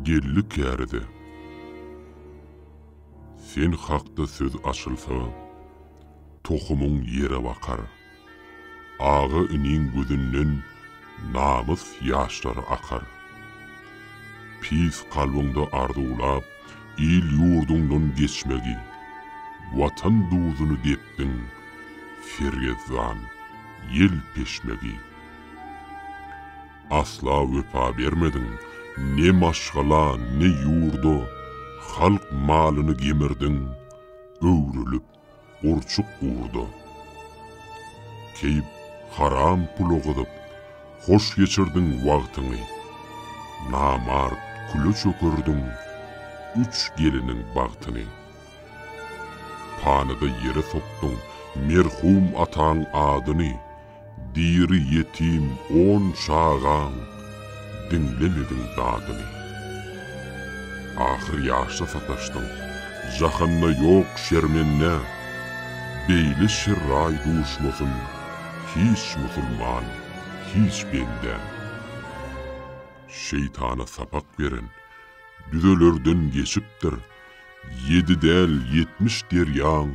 Geldi käride. Sen hakda söz açylsa, tohumyň ýere bakar. Aga iniň gözünden namys ýaşlary akar. Pis kalbyňda arzuwlap il-ýurduňdan geçmegi, Watan duzuny depdiň, sergezdan ýel-peşmegi. Asla wepa bermediň ne maşgala, ne ýurda, Halk malyny gemirdiň, öwrülip gurçuk urda. Keýp haram pula gyzyp, hoş geçirdiň wagtyňy. Namart küle çökerdiň üç geliniň bagtyny. Panyda ýere sokduň merhum ataň adyny. Diri ýetim on çagaň diňlemediň dadyny. Ahyr ýaşda sataşdyň, jahanda ýok şermende, Beýle şerraý duşmasyn hiç musulman, hiç bende. Şeýtana sapak beren düzelerden geçipdir, Ýedi däl ýetmiş derýaň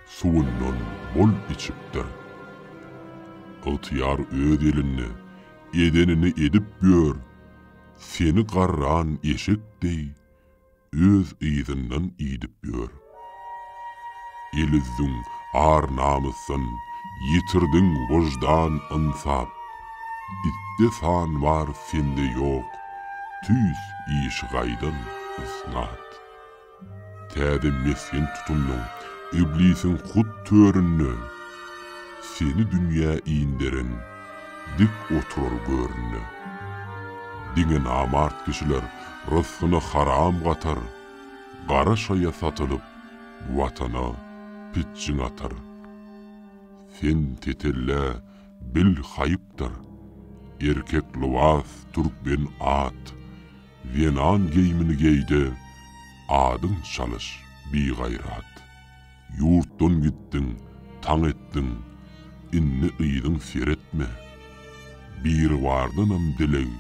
suwundan bol içipdir. Ygtyýar öz elinde edenini edip ýör, seni garran eşek deý öz yzyndan idip ýör. El-üzdüň ar-namysdan, ýitirdiň wyždan-ynsap, itde san bar, sende ýok, tüýs işigaýdan ysnat. Täze mesgen tutundyň, iblisiň hut töründe, Seni dünýä inderen, dik oturar göründe. Diňe namart kişiler rysgyny haram gatar, Gara şaýa satylyp, Watana pitjiň atar. Sen tetellä, bil haýypdyr, erkek lybas, türkmen at, Zenan geýimini geý-de, adyň çalyş, bigaýrat! Ýurtdan gitdiň, taň etdiň, indi yzyň seretme! Biribardanam dileg,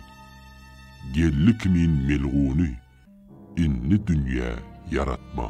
geldi kimin melguny, indi dünýä ýaratma!